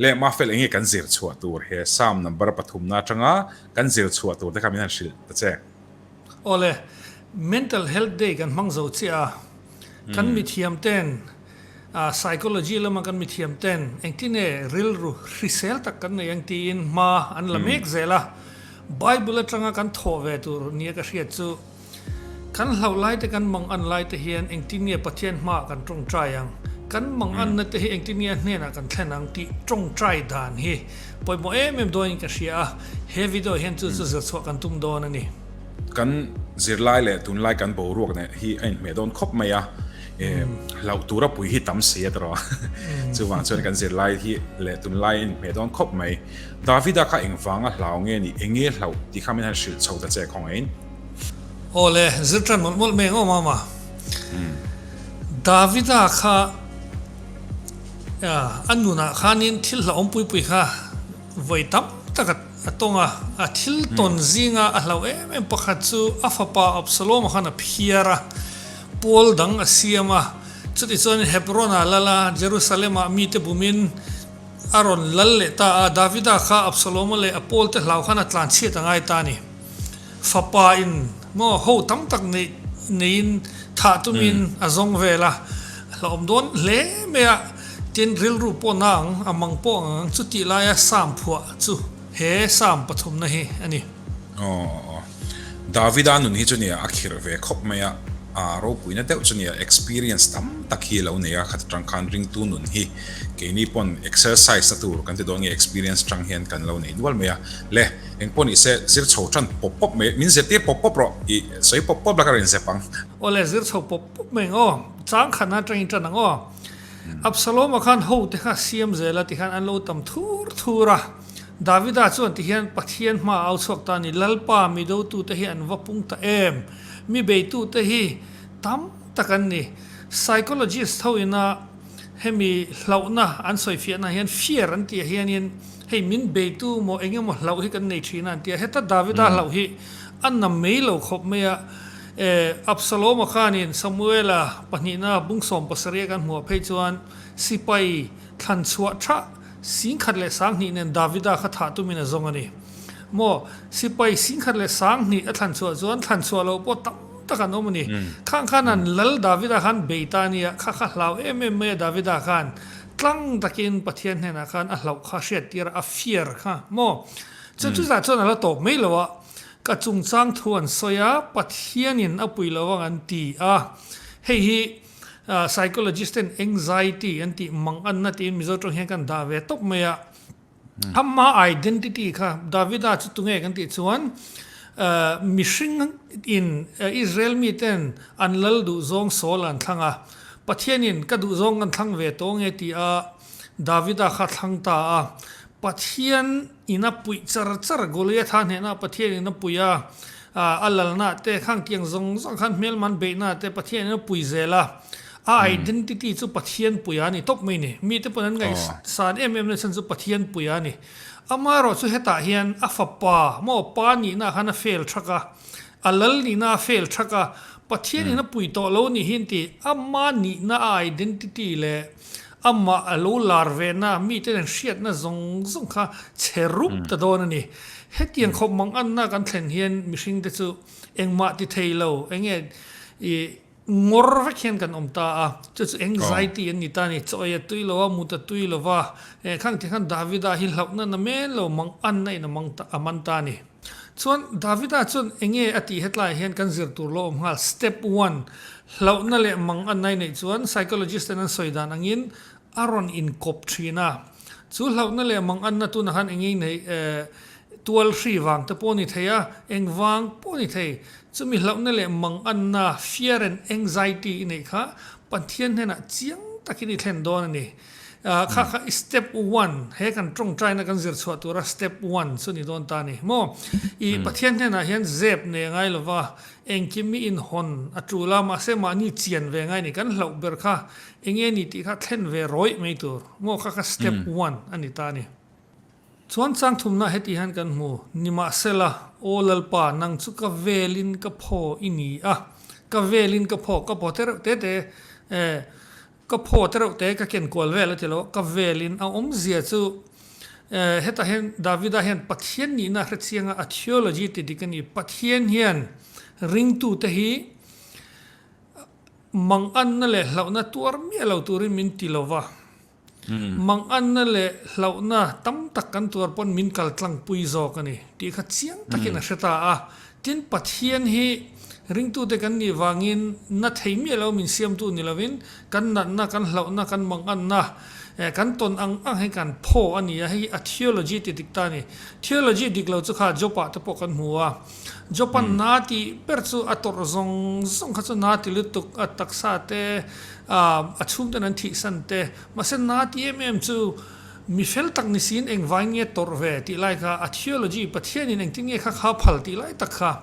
Leh mah fel enge kan zir chhuah tur he Psalm number pathum na atanga kan zir chhuah tur te kha min han hrilh ta che. Awle, Mental Health Day kan hmang zo chiah a, kan mithiam ten A, Psychology lama kan mithiam ten engtin nge rilru hrisel tak kan nei ang tiin hma an la mek zel a. Bible atanga kan thawh ve tur nia ka hriat chu. Kan hlauh laite kan mang an laite hian engtin nge Pathian hmaah kan tawngtai ang? Kan mang an nate hi engtin nge a hnenah kan thlen ang? tih tawngtai dan hi pawimawh em em dawiin ka hria a, he video hian chu chu zirchhuah kan tum dawn a ni. Kan zirlai leh tunlai kan boruak nen hi a inhmeh dawn khawp mai a. em lau tura pui hi tam se a tro chu wang chuan kan zir lai hi le tun lai in me don khop mai davida kha eng wanga hlau nge ni enge hlau ti kha min han hril chho ta che khawng ein ole zir tan mol mol meng awm ama hmm. davida kha an nuna khan in thil hlau pui pui kha voi tam taka atonga a thil hmm. ton zinga a hlau em em pakhat chu a fapa absalom khan a phiara Pawl dang a siam a, chuti chuan Hebronah lal a, Jerusalemah mite bumin a rawn lal leh ta a. Davida kha Absaloma leh a pawlte hlau khan a tlanchhiat a ngai ta a ni. Fapa in maw ho tam tak neih neiin thah tumin a zawng vel a, a hlauhawm dawn hle mai a, tin rilru pawna ang a mang pawh ang ang. Chutih laia Psalm phuah chu he Psalm pathumna hi a ni. Aw. Davida nun hi chu nia a khirh ve khawp mai a, aa ropuina deuh chu nia experience tam tak hi alo nei a, khat atang khan ringtu nun hi keini pawn exercise na tur kan ti dawn nge experience atang hian kan lo nei nual mai a, le eng pawh nise zir chho tan pawp pawp mai, min zir tir pawp pawp rawh i sawi pawp pawp laka rin zep ang. Aw le zir chho pawp pawp mai ang aw, chang khan a tain tan ang aw, Absaloma khan ho te kha siam zel a ti khan an lo tam thur thur a. Davida chuan ti hian, Pathian hma a au chhuak ta ni, Lalpa mi dotute hi an va pung ta em? Mi beitute hi tam tak an ni. Psychologist ho ina hemi hlauhna an sawifiahna hian fear an tih a hianin hei min beitu maw eng emaw hlauh hi kan nei thin a an ti a. Heta Davida hlauh hi a na mai lo khawp mai a. Absaloma khanin Samuela pahnihna bung sawm pasarih a kan hmuh phei chuan sipai thlan chhuah thah Singkhat leh sanghnih nen Davida kha thah tumin a zawng a ni. Maw? Sipai singkhat leh sanghnih a thlanchhuah chuan thlanchhuah loh pawh tam tak an awm a ni. Khang khan an lal Davida khan bei ta nia, kha kha hlau em em mai a Davida khan. Tlang takin Pathian hnenah khan a hlauh kha a hriat tir a, a fiar kha maw? Chuan chutah chuan a la tawp mai lo a, ka chungchang thu an sawi a, Pathianin a puih lo ang an ti a. Hei hi. Psychologist ten anxiety an tih mang a nat in Mizo tawng hian kan dah ve tawp mai a. A hma identity kha Davida chu tunge kan tih chuan mihring in Israel mi ten an lal duh zawng Saul an thlang a, Pathian in ka duh zawng kan thlang ve tawh ange ti a Davida kha thlang ta a. Pathian. In a puih char char, Goliatha hnenah Pathian in a puih a, a lalnah te, khangkiang zawng zawng khan hmelman beihna te Pathian in a puih zel a, a identity chu Pathian puih a ni tawp mai ni. Mite pawn an ngaih san em em na chhan chu Pathian puih a ni. Ama erawh chu hetah hian a fapa maw pa nihna khan a fail thak a, a lal nihna a fail thak a, Pathian in a puih tawh lo nih hi an ti. Ama nihna a identity leh Amah a lo lar vena miten an hriatna zawng zawng kha chhe rup ta dawn a ni. Hetiang khawp mang anna kan thlen hian mihring te chu engmah ti thei lo, enge i ngawr vek hian kan awm ta a, chu chu anxiety an ni ta a ni. Chawi a tui lo a, mut a tui lo va, enkhang tikhan Davida hi hlauhna na men lo mang anna in a man ta a ni. Chuan, Davida chuan, Enge a tih hetlaiah hian kan zir tur lo awm nghal. Step one, Hlauhna leh mang a nai neih chuan psychologist ten an sawi dan angin a rawn inkawp thin a. Chu hlauhna leh mang anna tunah khan engei nei tual hri vang te pawh a ni thei a, eng vang pawh a ni thei. Chumi hlauhna leh mang anna, fear and anxiety, i neih kha Pathian hnenah chiang takin i thlen dawn a ni. Kha kha i step one, he kan tawngtaina kan zir chhuah tura step one chu ni dawn ta ni maw? I Pathian hnenah hian zep ne ngai lo va, engkim mi inhawn a tul a, mahse mahni chian ve ngai ni, kan hlauh ber kha enge ni tih kha thlen ve rawih mai tur maw? Kha kha step one a ni ta ni. Chuan changthumna heti hian kan hmu, Nimahsela, aw Lalpa, nang chu ka velin ka phaw i ni a, ka velin ka phaw, ka pawh te reuh te te e, Ka phaw te reuh te ka ken kual vel a ti lo, ka vel in a awm zia chu eh heta hian David a hian Pathian nih na hrechiang a a theology ti dik a ni, Pathian hian ring tu te hi mang an na leh hlauh na tuar miah lo tur in min ti lo va, mang an na leh hlauh na tam tak kan tuar pawn min kal tlang pui zawk a ni tih kha chiang tak in a hre ta a, Tin, Pathian hi ringtute kan nih vangin na thei miah lo min siamtu ni lovin, kan natna, kan hlauhna, kan mangatna, kan tawn ang ang hi kan pho a ni a, hei hi a theology ti dik ta a ni. Theology dik lo chu kha Job-ah te pawh kan hmu a. Job-a na ti ber chu a tawrh zawng zawng kha chu na ti lutuk, a taksa te, a chhungten an thihsan te, mahse na ti em em chu, Mi fel tak ni siin eng vai nge tawrh ve tih lai kha, a theology Pathianin engtin nge kha kha phal tih lai tak kha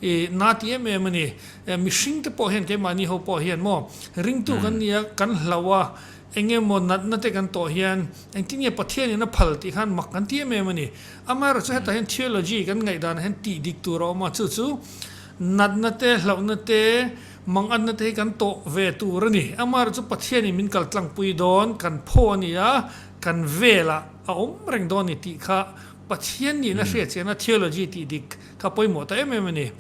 i na ti em em a ni. Mihring te pawh hian keimahni ho pawh hian maw ringtu kan ni a, kan hlau a, eng nge maw natna te kan tawh hian engtin nge Pathianin a phal tih khan mak kan ti em em a ni. Amaherawh chu hetah hian theology kan ngaih danah hian tih dik tur a awm a, chu chu natna te, hlauhna te, Mangatna te hi kan tawh ve tur a ni. Amah erawh chu Pathianin min kal tlangpui dawn, kan phaw a ni a, kan velah a awm reng dawn a ni tih kha Pathian niin a hriatchiahna theology tih dik kha pawimawh ta em em a ni.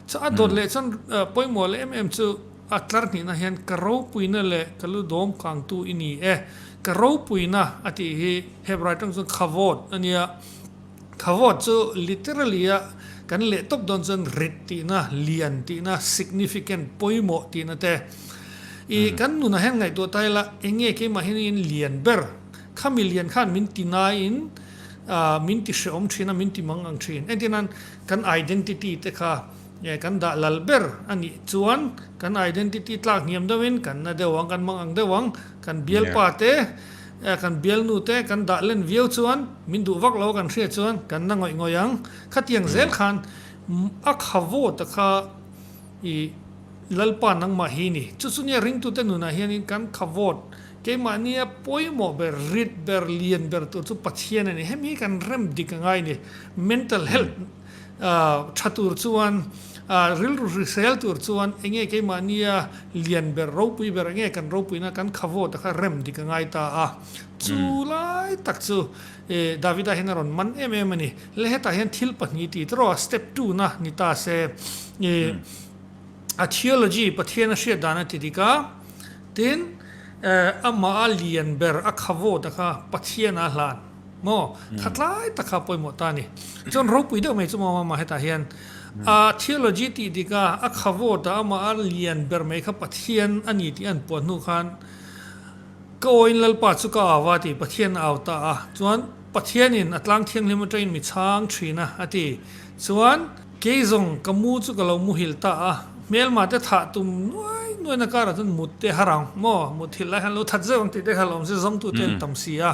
Chuan a dawt leh chuan pawimawh leh em em chu a tlarhnihna hian ka ropuina leh ka lu dawm kangtu i ni e. Ka ropuina a tih hi Hebrai tang chuan kavod a nia. Thawvawt chu literally a kan leh tawp dawn chuan rit tihna, lian tihna, significant, pawimawh tihna te. I kan nunah hian ngaihtuah ta ila, enge keimah hian in lian ber, khami lian khan min ti ngaiin min ti hrehawm thin a, min ti mang ang thin. Engtinan kan identity te kha kan dah lal ber a nih chuan kan identity tlak hniam deuhin kan na deuh ang, kan mang ang deuh ang. Kan bialpa te, kan bialnu te kan dah len viau chuan min duh vak lo kan hriat chuan kan na ngawih ngawih ang. Khatiang zel khan a khavo ta kha i Lalpa nangmah hi ni. Chu chu nia ringtute nunah hianin kan khavawt keimahnia pawimawh ber, rit ber, lian ber tur chu Pathian a ni. Hemi hi kan rem dik a ngai ni. Mental health. tha tur chuan rilru hrisel tur chuan eng nge keimahnia lian ber ropui ber eng nge kan ropuina kan khavawta kha rem dik a ngai ta a. Chu lai tak chu Davida hian a rawn man em em a ni. Le hetah hian thil pahnih ti ta rawh a, step two na ni ta se i a theology Pathiana hriat dan a ti dik a, tin amaha lian ber a khavawta kha Pathiana hlan. Maw? Kha tlai takah pawimawh ta a ni. Chuan ropui deuh mai chu maw mah hetah hian a theology tih dik a, a khavawt a, amah a lian ber mai kha Pathian a ni tih a han puah hnu khan ka awiin Lalpa chu ka au a ti. Pathian a au ta a. Chuan Pathianin a tlang thianghlim atangin mi chhang thin a a ti. Chuan. Kei zawng ka mu chu ka lo muhil ta a, hmelma te thah tum nuai nuaina karah chuan mut te ha rang maw, mut hil lai han lo that zeuh ang tih te kha lo awm se, zawngtu te an tam si a,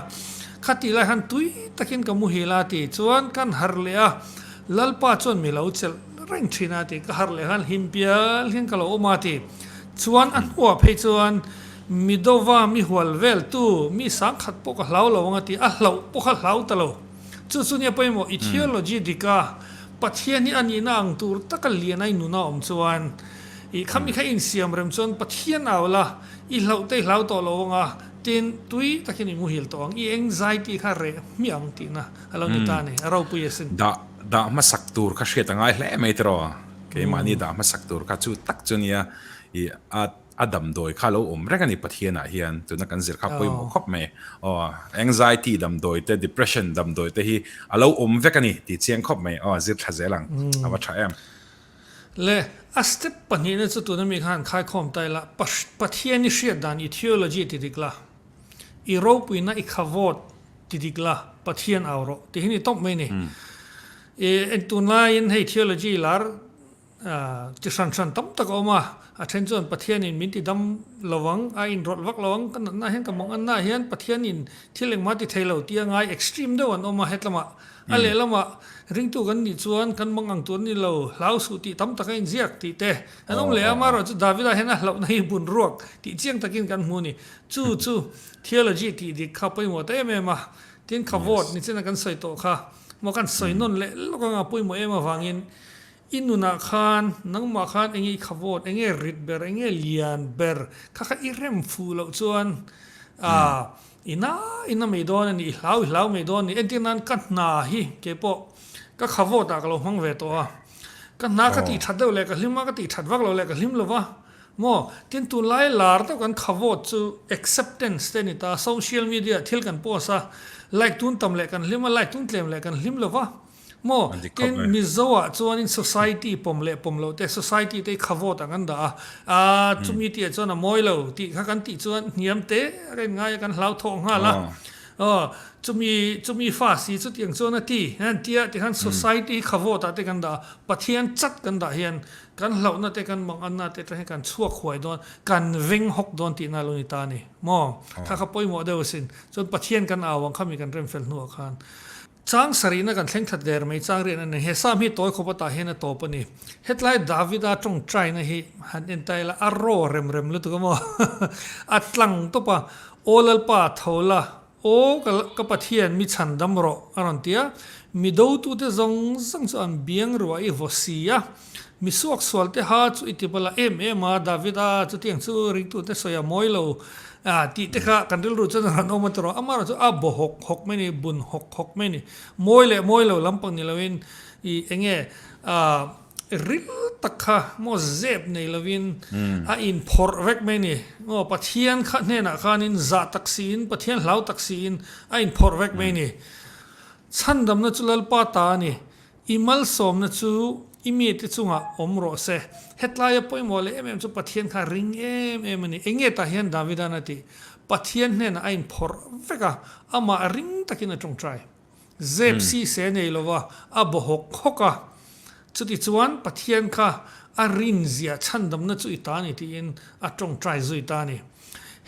khati lai han tui takin ka muhil a ti chuan kan har leh a, Lalpa chuan mi lo chelh reng thin a ti, ka har leh khan hlim pial hian ka lo awm a ti chuan a hnuah phei chuan mi dova mi hual veltu mi sangkhat pawh ka hlau lo ang a ti, a hlauh pawh kha hlau ta lo. Chu chu nia pawimawh i theology dik a, Pathian hi a nihna ang tur taka lian ai nun a awm chuan i khami kha in siam rem chuan Pathian au la, i hlauhtei hlau tawh lo ang a, tin tui takin i muhil tawh ang, i anxiety kha reh hmiah ang tihna a lo ni ta a ni, a ropui a sin. Dah dah hmasak tur kha hriat a ngai hle mai tawh, keimahni dah hmasak tur kha chu tak chu nia i a A damdawi kha lo awm reng a ni Pathianah hian tuna kan zir kha pawimawh khawp mai. Aw, anxiety damdawi te, depression damdawi te hi a lo awm vek a ni tih chiang khawp mai. Aw, zirthla zel ang a va tha em. Le, a step pahnihna chu tuna mi khan khaikhawm ta ila, Pathian i hriat dan i theology ti dik la, i ropuina i khavawt ti dik la, Pathian au rawh. Tih hi ni tawp mai a ni. I, en tunlaiin hei theology lar Chi hran hran tam tak a awm a, a then chuan Pathianin min ti dam lo ang, a inrawlh vak lo ang, ka natnah hian ka manganah hian Pathianin thil engmah ti thei lo tia ngai extreme deuh an awm a hetlamah, a lehlamah ringtu kan nih chuan kan mang ang tur a ni lo, hlau suh tih tam tak a inziak tih te an awm leh a, amaherawh chu Davida hian a hlauhna hi bun ruak tih chiang takin kan hmu a ni, chu chu theology tih dik kha pawimawh ta em em a, tin khavawt nichina kan sawi tawh kha, maw kan sawi nawn leh lawk ang a pawimawh em avangin I nunah khan nangmah khan enge i khavawt, enge rit ber, enge lian ber kha kha i rem fuh loh chuan aah i na i na mai dawn a ni, i hlau i hlau mai dawn a ni. Entir nan ka hna hi kei pawh ka khavawtah ka lo hmang ve tawh a, ka hna ka tih that deuh leh ka hlim a, ka tih that vak lo leh ka hlim lo va maw. Tin, tunlai lar deuh kan khavawt chu acceptance te a ni ta, social media thil kan post a, like tun tam leh kan hlim a, like tun tlem leh kan hlim lo va. Maw, tin Mizoa chuanin society pawm leh pawm lo te, society te hi kha vote ang an dah a, aa chumi tih ah chuan a mawi lo tih kha kan tih chuan hniam te a rawn ngai a kan hlau thawk nghal a, aw chumi chumi fa si chutiang chuan a ti han tia ti khan society kha vote ah te kan dah a, Pathian chat kan dah hian kan hlauh na te kan mawng an na te atang hian kan chhuak huai dawn, kan veng hawk dawn tih na lo ni ta a ni maw, kha kha pawimawh deuh a sin, chuan Pathian kan au ang kha mi kan remfel hnu ah khan. Chang sarihna kan thleng that der mai chang rian a ni. He Psalm hi tawi khawpa tah hian a tawp a ni. Hetlai Davida tawngtaina hi han en ta ila, a raw rem rem lutuk a maw? A tlang tawp a, Aw Lalpa, tho la, aw ka ka Pathian mi chhandam rawh a rawn ti a. Mi dotute zawng zawng chu an biang ruah i vaw si a. Mi suak sual te ha chu i tip a la em em a, David a, chutiang chu ringtute sawi a mawi lo. Aah, tih te kha kan rilru chuan a han awm a ti rawh, amaherawh chu a baw hawk hawk mai ni, bun hawk hawk mai ni. Mawi leh mawi lo lampang ni loin i enge aah ril tak kha maw zep nei lovin a in phawrh vek mai ni. Maw Pathian kha hnenah khanin zah tak siin, Pathian hlau tak siin a in phawrh vek mai ni. Chhandamna chu Lalpa ta a ni. I malsawmna chu i mi te chungah awm rawh se. Hetlaia pawimawh leh em em chu Pathian kha a ring em em a ni. Enge tah hian Davidan a tih? Pathian hnenah a inphawrh vek a, amah a ring takin a ṭawngṭai. Zep si se nei lova a baw hawk hawk a. Chutichuan Pathian kha a rinzia chhandamna chu i ta a ni tiin a ṭawngṭai zui ta a ni.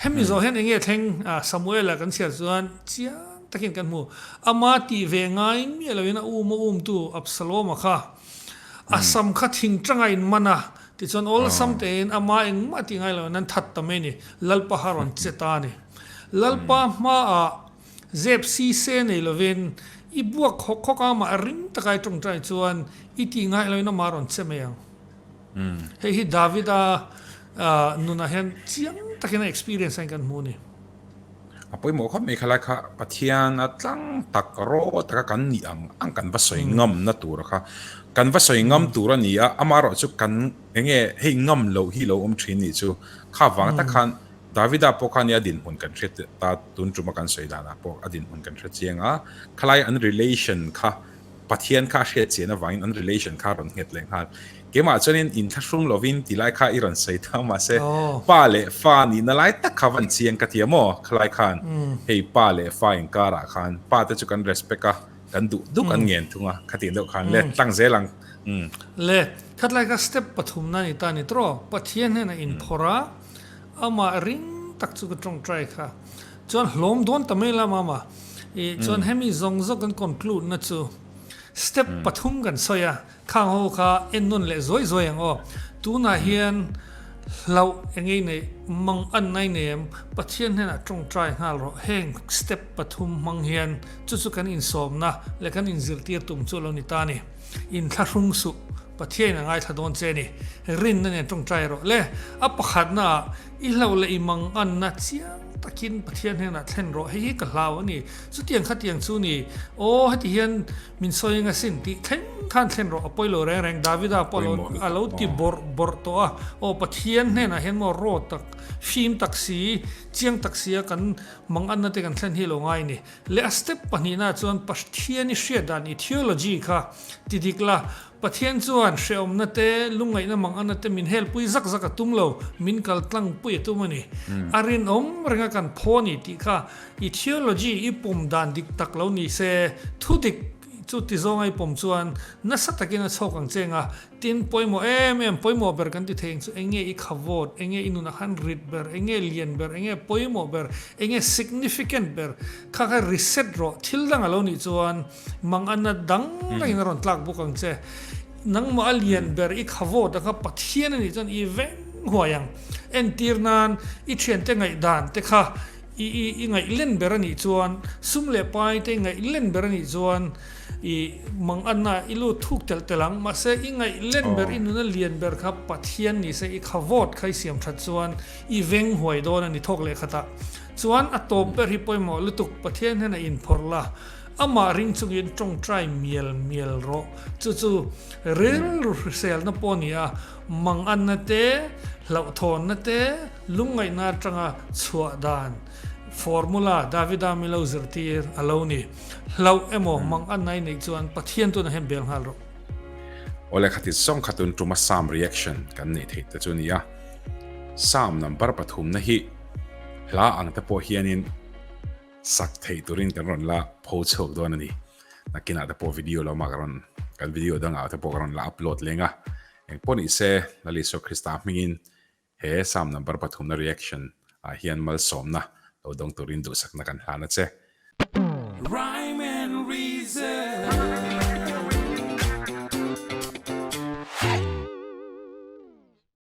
Hemi zawh hian enge thleng Samuela kan chhiar chuan chiang takin kan hmu. Ama tih ve ngai miah loin a um a umtu Absaloma kha a sam kha thing tanga in man a, tichuan awlsam tein ama engmah tih ngai loin an that ta mai ni, Lalpa kha a rawn che ta a ni. Lalpa hmaah zep sise nei lovin i buak khawk khawk a, mah ring taka i tawngtai chuan i tih ngai loin amah a rawn che mai ang. Hei hi Davida nunah hian chiang takin a experience ain kan hmu a ni. A pawimawh khawp mai kha lai kha Pathiana tlang tak rawh taka kan nih ang ang kan va sawi ngamna tura kha kan va sawi ngam tur a ni a, amah erawh chu kan eng nge hei ngam loh hi lo awm thin nih chu kha vang tak khan Davida pawh khan i a dinhmun kan hre ta tun tuma kan sawi danah pawh a dinhmun kan hre chiang a, khalaia an relation kha Pathian kha a hriat chian avangin an relation kha rawn nghet leh nghal. Keimah chuanin in thlahrum lovin ti lai kha i rawn sawi ta mahse pa leh fa nihna lai tak kha van chiang ka ti a maw? Khalai khan hei pa leh fa inkarah khan pa te chu kan respect a, kan duh duk an ngen thung a, khatih deuh khan let tlang zel ang. Let. Khatlai kha step pathumna a ni ta ni trawh. Pathian hnena inphawrha amah ring tak chu ka tawngtai kha. Chuan hlawm dawn ta mai la mama. I chuan hemi zawng zawk kan conclude na chu step pathum kan sawi a, khang ho kha en nawn leh zuai zuai ang aw. Tunah hian hlauh e ngei nei, mang an nai nei em, Pathian hnenah tawngtai nghal rawh, heng step pathum hmang hian chu chu kan insawmna leh kan inzirtir tum chu a lo ni ta a ni. Inthlahrung suh Pathian in a ngaithla dawn che a ni. Rinna nen tawngtai rawh le. A pakhatna ah I hlauh leh i mang anna chiang takin Pathian hnenah thlen rawh, hei hi ka hlau a ni, chutiang kha tiang chu ni, aw heti hian min sawi eng asin tih thleng khan thlen rawh a pawi lo reng reng, Davida pawh a lo ti bawrh bawrh tawh a, aw Pathian hnenah hian maw raw tak, hrim tak si, chiang tak sia kan mang anna te kan thlen hi lo ngai ni. Leh a step pahnihna ah chuan Pathian i hriat dan i theology kha ti dik la, Pathian chuan hrehawmna te, lungngaihna mang anna te min helpui zak zak a tum lo, min kal tlangpui a tum a ni. A rinawm renga kan phaw a ni tih kha i theology i pawm dan dik tak lo ni se, thu dik chu ti zawnga i pawm chuan nasa takin a chhawk ang che eng a, tin, pawimawh em em, pawimawh ber kan ti thei ang chu eng nge i khavawt, eng nge i nunah khan rit ber, eng nge lian ber, eng nge pawimawh ber, eng nge significant ber kha kha reset rawh, thil dang a lo nih chuan, Mang ana dang rengin a rawn tlak bawk ang che. Nangmah a lian ber i khawvawt ang a, Pathian a nih chuan i veng huai ang. Entir nan i thiante ngaihdan te kha i i ngaih len ber a nih chuan, sum leh pai te i ngaih len ber a nih chuan i mang ana i lut thuk telh telh ang. Mahse i ngaih len ber, i nuna lian ber kha Pathian ni se i khawvawt kha i siam that chuan i veng huai dawn a ni thawk leh khatah. Chuan a tawp ber hi pawimawh lutuk Pathian hian a inphawrh la. Amah ring chungin tawngtai mial mial rawh. Chu chu rilru hriselna pawh a ni a, manganna te, hlauhthawnna te, lungngaihna atanga chhuah dan, formula, Davida milo zirtir a lo ni. Hlauh emaw manganna ai neih chuan Pathian tun a hem bel nghal rawh. Aw lehkha ti zawng kha tun tuma Psalm reaction kan neih theih te chu a ni a. Psalm number pathumna hi hla ang te pawh hianin Sak theih turin kan rawn la post chhuak dawn a ni. Nakinah te pawh video lo mah ka rawn, kan video dangah te pawh ka rawn la upload leng a. Engpawh ni se, Lal Isua Krista hmingin he Psalm number pathumna reaction ah hian malsawmna lo dawng turin duhsakna kan hlan a che. Rhyme and Reason.